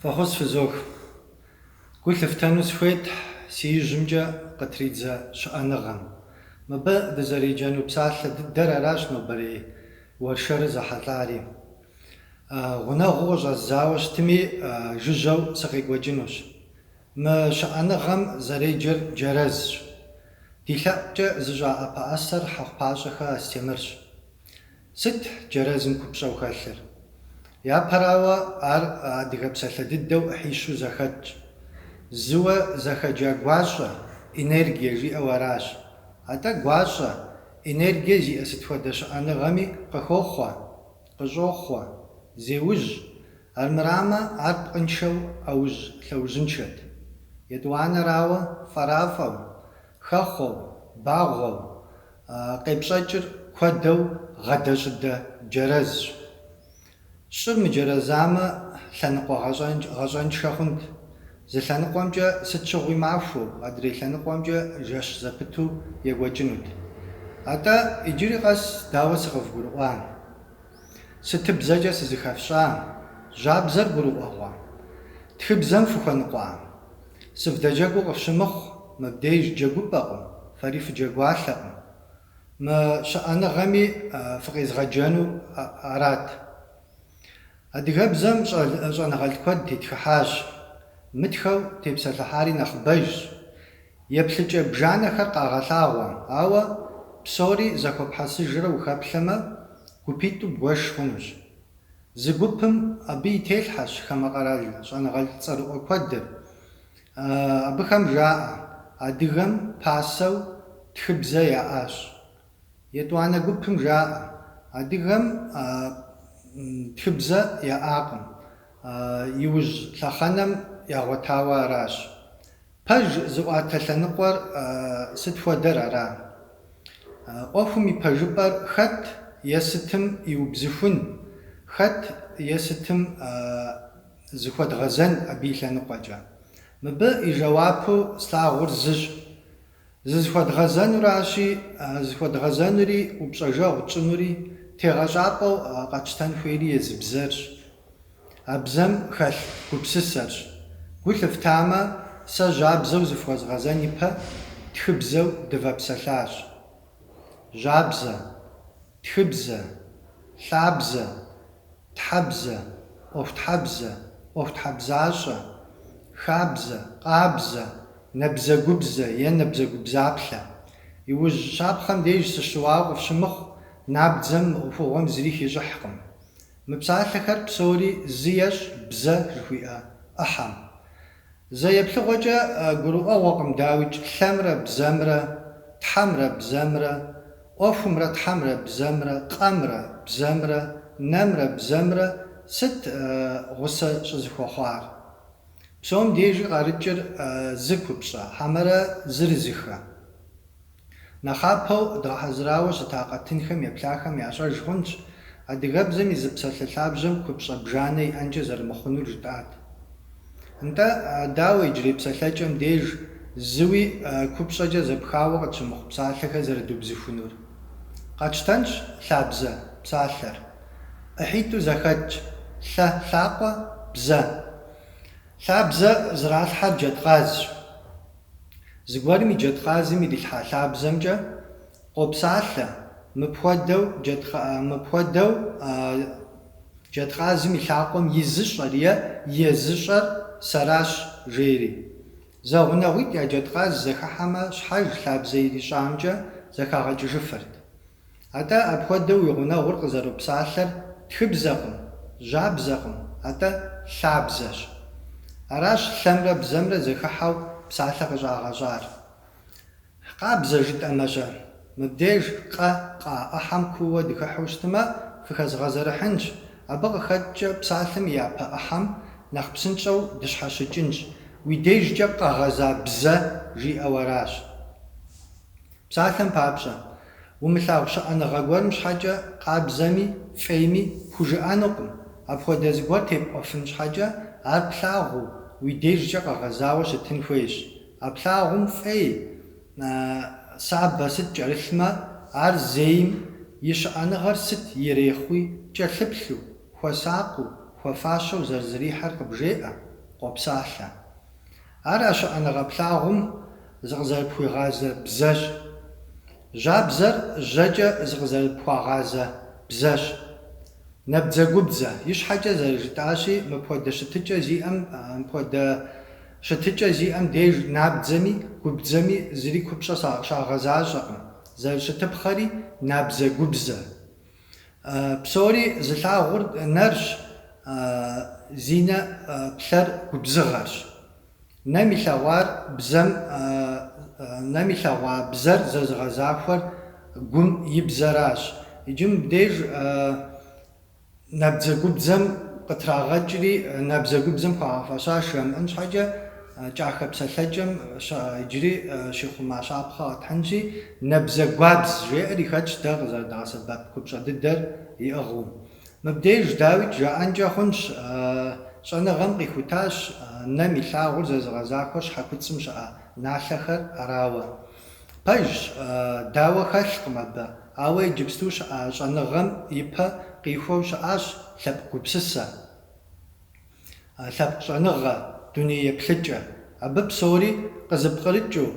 Фӏэхъус фызох. Гу лъыфтэну схуейт си ижьымкӏэ къытридзэ щыӏэныгъэм. Мыбы дызэреджэну псалъэ дыдэр аращ нобэрей уэршэрыр зэхьэлӏари. Гъунэгъуу къыщӏэздзауэ щытми, жыжьэу сыкъекӏуэкӏынущ. Мы щыӏэныгъэм зэреджэр Джэрэзщ. Ди лъэӏукӏэ зыщӏа ӏэпэӏэсэр Хьэхъупащӏэхэ Астемырщ. Сыт Джэрэзым купщӏэу хэлъыр? Япэрауэ, ар адыгэ псалъэ дыдэу ӏыхьищу зэхэтщ. Зыуэ зэхэджа гуащӏэ, энергие жиӏэу аращ. Атӏэ гуащӏэ, энергие зиӏэ сыт хуэдэ щыӏэныгъэми къыхохъуэ, къыщӏохъуэ, зеужь, Армырамэ, ар пкъыншэу ӏэужь лъэужьыншэт. Етӏуанэрауэ, фӏэрафӏэу, хэхъуэу, багъуэу къепщӏэкӏыр куэдэу гъэдэ-щӏыдэ джэрэзщ. Щӏыр мыджэрэзамэ, лъэныкъуэ гъэщӏэншэ хъунт. Зы лъэныкъуэмкӏэ сыт щыгъуи махуэу, адрей лъэныкъуэмкӏэ жэщ зэпыту екӏуэкӏынут. Атӏэ, иджыри къэс дауэ сыкъывгурыӏуа? Сытыбзэкӏэ сызыхэфщӏа? Жьабзэр гурыӏуэгъуа? Тхыбзэм фыхуэныкъуа? Сывдэджэгуу къыфщымыхъу, мыбдеж джэгупӏэкъым, фэри фыджэгуалъэкъым. Мы щыӏэныгъэми фыкъезгъэджэну арат. Адыгэбзэм щӏэныгъэлӏ куэд тетхыхьащ. Мытхэу тепсэлъыхьари нэхъыбэжщ. Еплъыкӏэ бжанэхэр къагъэлъагъуэ, ауэ псори зэхуэпхьэсыжрэ ухэплъэмэ, гупитӏу бгуэш хъунущ. Зы гупым абы и телъхьэщ хамэ къэрал щӏэныгъэлӏ цӏэрыӏуэ куэдыр. Абыхэм жаӏэ, Адыгэм пасэу тхыбзэ яӏащ. Етӏуанэ гупым жаӏэ, Адыгэм тхыбзэ яӏакъым, иужь лъэхъэнэм ягъуэтауэ аращ. Пэж зыӏуатэ лъэныкъуэр сыт хуэдэр ара? ӏуэхум и пэжыпӏэр хэт е сытым иубзыхун, хэт е сытым зыхуэдгъэзэн абы и лъэныкъуэкӏэ? Мыбы и жэуапу слъагъур зыщ, зызыхуэдгъэзэнуращи, зыхуэдгъэзэнури упщӏэжэгъу тщӏынури тегъэщӏапӏэу къэтщтэн хуейри езы бзэрщ. А бзэм хэлъ гупсысэрщ. Гу лъыфтамэ, сэ жьабзэу зыфхуэзгъэзэн ипэ тхыбзэу дывэпсэлъащ. Жьабзэ, тхыбзэ, лъабзэ, тхьэбзэ, ӏуэхутхьэбзэ, ӏуэхутхьэбзащӏэ, хабзэ, къабзэ, набзэгубзэ е набзэгубзаплъэ. Иужь щапхъэм деж сыщыуауэ къыфщымыхъу, набдзэм мы ӏуэхугъуэм зыри хищӏыхькъым. Мы псалъэхэр псори зы ещӏ бзэ жыхуиӏэ ӏыхьэм. Зэ еплъыгъуэкӏэ гурыӏуэгъуэкъым, дауикӏ, лъэмрэ бзэмрэ, тхьэмрэ бзэмрэ, ӏуэхумрэ тхьэмрэ бзэмрэ, къэмрэ бзэмрэ, нэмрэ бзэмрэ сыт гъусэ щӏызэхуэхъуар. Псом дежи къарыкӏыр зы купщӏэ, хьэмэрэ зырызыхэ. Нэхъапэу дгъэхьэзырауэ щыта къэтынхэм еплъахэм ящӏэж хъунщ адыгэбзэм и зы псалъэ лъабжьэм купщӏэ бжанэ иӏэнкӏэ зэрымыхъунур жытӏат. Нтӏэ, дауэ иджырей псалъэкӏэм деж зыуи купщӏэкӏэ зэпхауэ къытщымыхъу псалъэхэр зэрыдубзыхунур? Къэтщтэнщ лъабзэ псалъэр. ӏыхьитӏу зэхэтщ, лъэ, лъакъуэ, бзэ. Лъабзэ зралъхьэр джэдкъазщ. Зыгуэрым и джэдкъазым ирилъхьа лъабзэмкӏэ къопсалъэ, мыпхуэдэу мыпхуэдэу джэдкъазым и лъакъуэм изыщӏэр е езыщӏэр сэращ, жери. Зэгъунэгъуитӏ я джэдкъаз зэхыхьэмэ щхьэж лъабзэ ирищӏамкӏэ зэхагъэкӏыжыфырт. Атӏэ апхуэдэу уи гъунэгъур къызэропсалъэр тхыбзэкъым, жьабзэкъым, атӏэ лъабзэщ. Аращ лъэмрэ бзэмрэ зэхыхьэу псалъэ къыщӏагъэщӏар. Къабзэ жытӏэмэ-щэ? Мыбдеж къэ къа ӏыхьэм кууэ дыхыхьу щытымэ, фыхэзгъэзэрыхьынщ, абы къыхэкӏкӏэ псалъэм и япэ ӏыхьэм нэхъ псынщӏэу дыщхьэщыкӏынщ, уи дежкӏэ къэгъэза бзэ жиӏэу аращ. Псалъэм папщӏэ, умылъагъу щыӏэныгъэ гуэрым щхьэкӏэ къабзэми, фӏейми пхужыӏэнукъым. Апхуэдэ зыгуэр тепӏуэфын щхьэкӏэ, ар плъагъуу, уи дежкӏэ къэгъэзауэ щытын хуейщ. А плъагъум фӏей, сабэ сыт кӏэрылъмэ, ар зейм и щыӏэныгъэр сыт ирехъуи, кӏэлъыплъу, хуэсакъыу, хуэфащэу зэрызрихьэр къыбжеӏэ, къопсалъэ. Ар а щыӏэныгъэ плъагъум зыкъызэрыпхуигъазэ бзэщ. Жьабзэр жьэкӏэ зыкъызэрыпхуагъазэ бзэщ. Набдзэгубдзэ, ищхьэкӏэ зэрыжытӏащи, мыпхуэдэ щытыкӏэ зиӏэм, мыпхуэдэ щытыкӏэ зиӏэм деж набдзэми, губдзэми зыри купщӏэ щагъэзащӏэкъым, зэрыщытыпхъэри, набдзэгубзэ. Псори зылъагъур нэрщ, зи нэ плъэр губзыгъэрщ. Нэм илъэгъуар бзэм, нэм илъэгъуа бзэр зэзыгъэзахуэр гум и бзэращ. Иджы мыбдеж набдзэгубдзэм къытрагъэкӏри, набдзэгубдзэм хуагъэфэщащ жамыӏэн щхьэкӏэ, Кӏахэ псэлъэкӏэм щыӏэ иджыри щихъума щапхъэ къэтхьынщи, Нэбзэгуабз жеӏэри хэтщ дэ къызэрыдгъэсэбэп купщӏэ дыдэр иӏыгъыу. Мыбдеж дауикӏ жаӏэнкӏэ хъунщ, щӏэныгъэм къихутащ нэм илъагъур зэзыгъэзахуэр щхьэкуцӏым щыӏэ налъэхэр арауэ. Пэжщ, дауэ хэлъкъым абы, ауэ иджыпсту щыӏэ щӏэныгъэм ипэ къихуэу щыӏащ лъэпкъ гупсысэ. лъэпкъ щӏэныгъэ, дуней еплъыкӏэ, абы псори къызыпкърыкӏыу,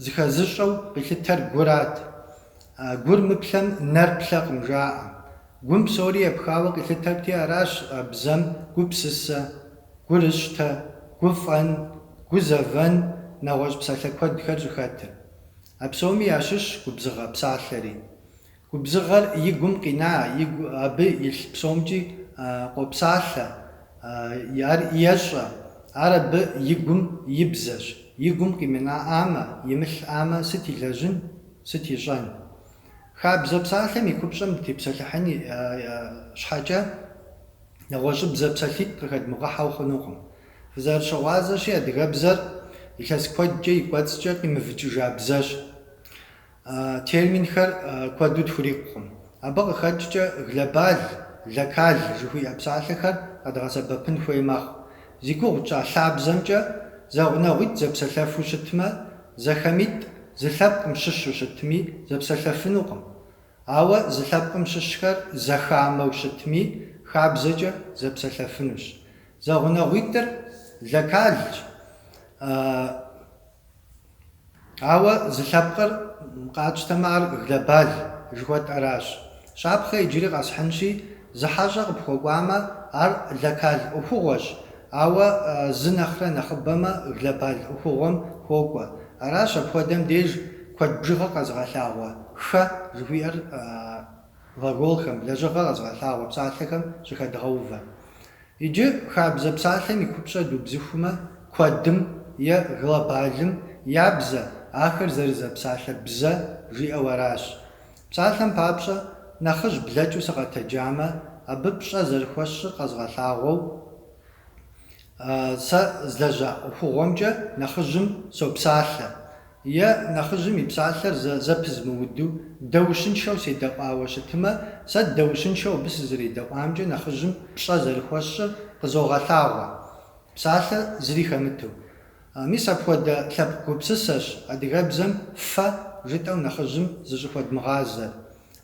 зыхэзыщӏэу къилъытэр гурат. Гур мыплъэм нэр плъэкъым, жаӏэ. Гум псори епхауэ къилъытэрти, аращ бзэм гупсысэ, гурыщтэ, гуфӏэн, гузэвэн, нэгъуэщӏ псалъэ куэдхэр щӏыхэтыр. А псоми ящыщщ губзыгъэ псалъэри. Губзыгъэр и гум къина, игу абы илъ псомкӏи къопсалъэ, ар ещӏэ, ар абы и гум и бзэщ. И гум къимынаӏамэ, имылъӏамэ, сыт илэжьын, сыт ищӏэн? Хабзэ псалъэм и купщӏэм дытепсэлъыхьын щхьэкӏэ, нэгъуэщӏыбзэ псалъитӏ къыхэдмыгъэхьэу хъунукъым. Фызэрыщыгъуазэщи, адыгэбзэр илъэс куэдкӏэ и кӏуэцӏкӏэ къимывыкӏыжа бзэщ. Терминхэр куэду тхурикъукъым. Абы къыхэкӏкӏэ глобаль, локаль жыхуиӏэ псалъэхэр къэдгъэсэбэпын хуей мэхъу. Зи гугъу тщӏа лъабзэмкӏэ, зэгъунэгъуитӏ зэпсэлъэфу щытмэ, зэхэмитӏ зы лъэпкъым щыщу щытми, зэпсэлъэфынукъым. Ауэ зы лъэпкъым щыщхэр зэхамэу щытми, хабзэкӏэ зэпсэлъэфынущ. Зэгъунэгъуитӏыр локальщ. Ауэ зы лъэпкъыр къатщтэмэ, ар глобаль жыхуэтӏэращ. Щапхъэ иджыри къэсхьынщи, зы хьэщӏэ къыпхуэкӏуамэ, ар локаль ӏуэхугъуэщ, ауэ зы нэхърэ нэхъыбэмэ, глобаль ӏуэхугъуэм хуокӏуэ. Аращ апхуэдэм деж куэд бжыгъэ къэзыгъэлъагъуэ хэ жыхуиӏэр глаголхэм, лэжьыгъэ къэзыгъэлъагъуэ псалъэхэм щыхэдгъэувэр. Иджы хабзэ псалъэм и купщӏэ дубзыхумэ, куэдым е глобалым я бзэ, ахэр зэрызэпсалъэ бзэ жиӏэу аращ. Псалъэм папщӏэ, нэхъыжь блэкӏыу сыкъэтэджамэ, абы пщӏэ зэрыхуэсщӏыр къэзгъэлъагъуэу, сэ злэжьа ӏуэхугъуэмкӏэ нэхъыжьым сопсалъэ, Е, нэхъыжьым и псалъэр зэ зэпызмыуду, дэущыншэу седэӏуауэ щытымэ, сэ дэущыншэу абы сызэредэӏуамкӏэ нэхъыжьым пщӏэ зэрыхуэсщӏыр къызогъэлъагъуэ, псалъэ зыри хэмыту. Мис апхуэдэ лъэпкъ гупсысэщ адыгэбзэм фэ жытӏэу нэхъыжьым зыщӏыхуэдмыгъазэр.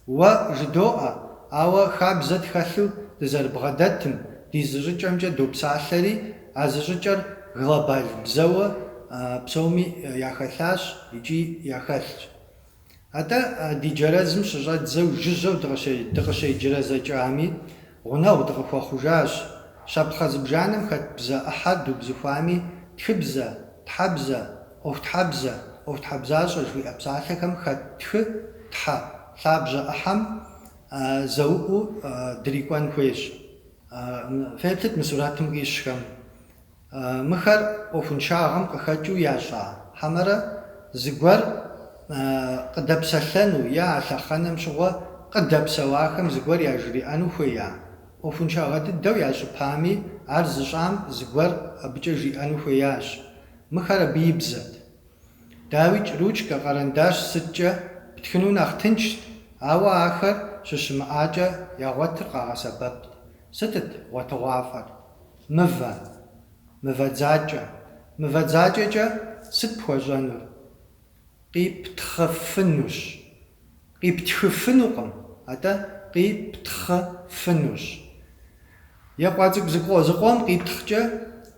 Уэ жыдоӏэ, ауэ хабзэ тхэлъу дызэрыбгъэдэтым, ди зыщӏыкӏэмкӏэ допсалъэри, а зыщӏыкӏэр глобал бзэуэ псоми яхэлъащ икӏи яхэлъщ. Атӏэ ди джэрэзым щыщӏэдзэу жыжьэу дыкъыщеджэрэзэкӏами, Гъунэгъу дыкъыхуэхъужащ. Щапхъэ зыбжанэм хэт бзэ ӏыхьэ дубзыхуами, тхыбзэ, тхьэбзэ, ӏуэхутхьэбзэ, ӏуэхутхьэбзащӏэ жыхуиӏэ псалъэхэм хэт тхы, тхьэ лъабжьэ ӏыхьэм зэуӏуу дрикӏуэн хуейщ. Феплъыт мы сурэтым къищхэм. Мыхэр ӏуэхуншагъэм къыхэкӏыу ящӏа? Хьэмэрэ зыгуэр къыдэпсэлъэну е а лъэхъэнэм щыгъуэ къыдэпсэуахэм зыгуэр яжриӏэну хуея? ӏуэхуншагъэ дыдэу ящӏыпами, ар зыщӏам зыгуэр абыкӏэ жиӏэну хуеящ. Мыхэр абы и бзэт. Дауикӏ, ручкэ, къэрэндащ сыткӏэ птхыну нэхъ тыншт, ауэ ахэр щыщымыӏакӏэ ягъуэтыр къагъэсэбэпт. Сытыт гъуэтыгъуафӏэр? Мывэ. Мывэ дзакӏэ. Мывэ дзакӏэкӏэ сыт пхуэщӏэнур? Къиптхъыфынущ. Къиптхыфынукъым, атӏэ къиптхъыфынущ. Екъуа цӏыкӏу зыкъо зыкъом къиптхъкӏэ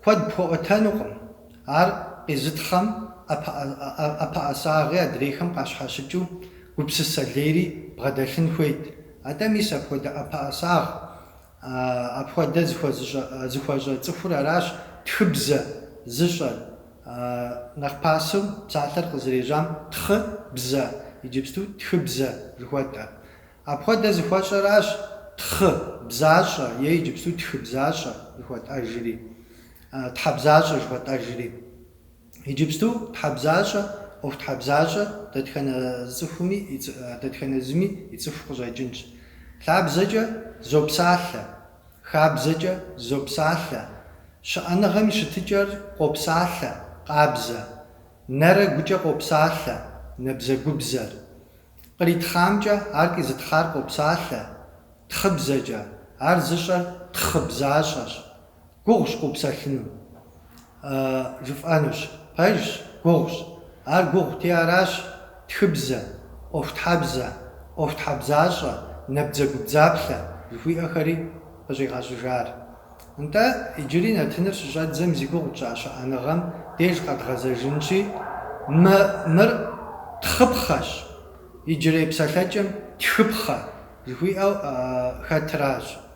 куэд пхуэӏуэтэнукъым, ар къизытхъэм ӏэпэӏэсагъи адрейхэм къащхьэщыкӏыу гупсысэ лейри бгъэдэлъын хуейт, атӏэ мис апхуэдэ ӏэпэӏэсагъ Апхуэдэ зыхуэщӏэ цӏыхур аращ тхыбзэ зыщӏэр. Нэхъ пасэу псалъэр къызэрежьам тхъыбзэ, иджыпсту тхыбзэ жыхуэтӏэ. Апхуэдэ зыхуэщӏэращ тхъыбзащӏэ е иджыпсту тхыбзащӏэ жыхуэтӏэжри, тхьэбзащӏэ жыхуэтӏэжри. Иджыпсту тхьэбзащӏэ, ӏуэхутхьэбзащӏэ дэтхэнэ цӏыхуми и цӏы, дэтхэнэ зыми и цӏыху къыщӏэкӏынщ. Лъабзэкӏэ зопсалъэ, хабзэкӏэ зопсалъэ, щыӏэныгъэм и щытыкӏэр къопсалъэ, къабзэ, нэрэ гукӏэ къопсалъэ, нэбзэгубзэр. Къритхъамкӏэ ар къизытхъар къопсалъэ, тхъыбзэкӏэ, ар зыщӏэр тхъыбзащӏэщ. Гугъущ къыупсэлъыну. Ы, жыфӏэнущ. Пэжщ, гугъущ. Ар гугъути аращ, тхыбзэ, ӏуэхутхьэбзэ, ӏуэхутхьэбзащӏэ, набдзэгубдзаплъэ жыхуиӏэхэри къыщӏигъэщӏыжар. Нтӏэ, иджыри нэтыныр щыщӏэдзэм зи гугъу тщӏа щыӏэныгъэм деж къэдгъэзэжынщи, мы, мыр тхъыпхъэщ, иджырей псалъэкӏэм тхыпхъэ жыхуиӏэу хэтыращ.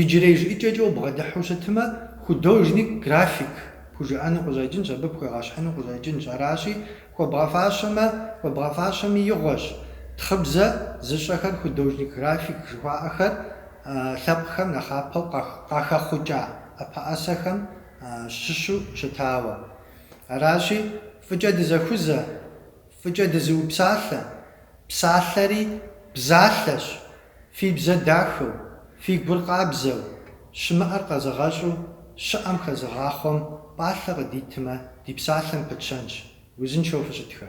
Иджырей жыӏэкӏэкӏэ убгъэдыхьу щытмэ, художник, график пхужыӏэну къыщӏэкӏынщ, абы пхуегъэщхьыну къыщӏэкӏынщ. Аращи, хуэбгъэфащэмэ, хуэбгъэфащэми игъуэщ. Тхъыбзэ зыщӏэхэр художник, график жыхуаӏэхэр лъэпкъхэм нэхъапэу къахэхъукӏа ӏэпэӏэсэхэм щыщу щытауэ. Аращи, фӏыкӏэ дызэхузэ, фӏыкӏэ дызыупсалъэ, псалъэри бзалъэщ, Фи бзэ дахэу, фи гур къабзэу, щымыӏэр къэзыгъэщӏу щыӏэм хэзыгъахъуэм пӏалъэ къыдитмэ, ди псалъэм пытщэнщ. Узыншэу фыщытхэ.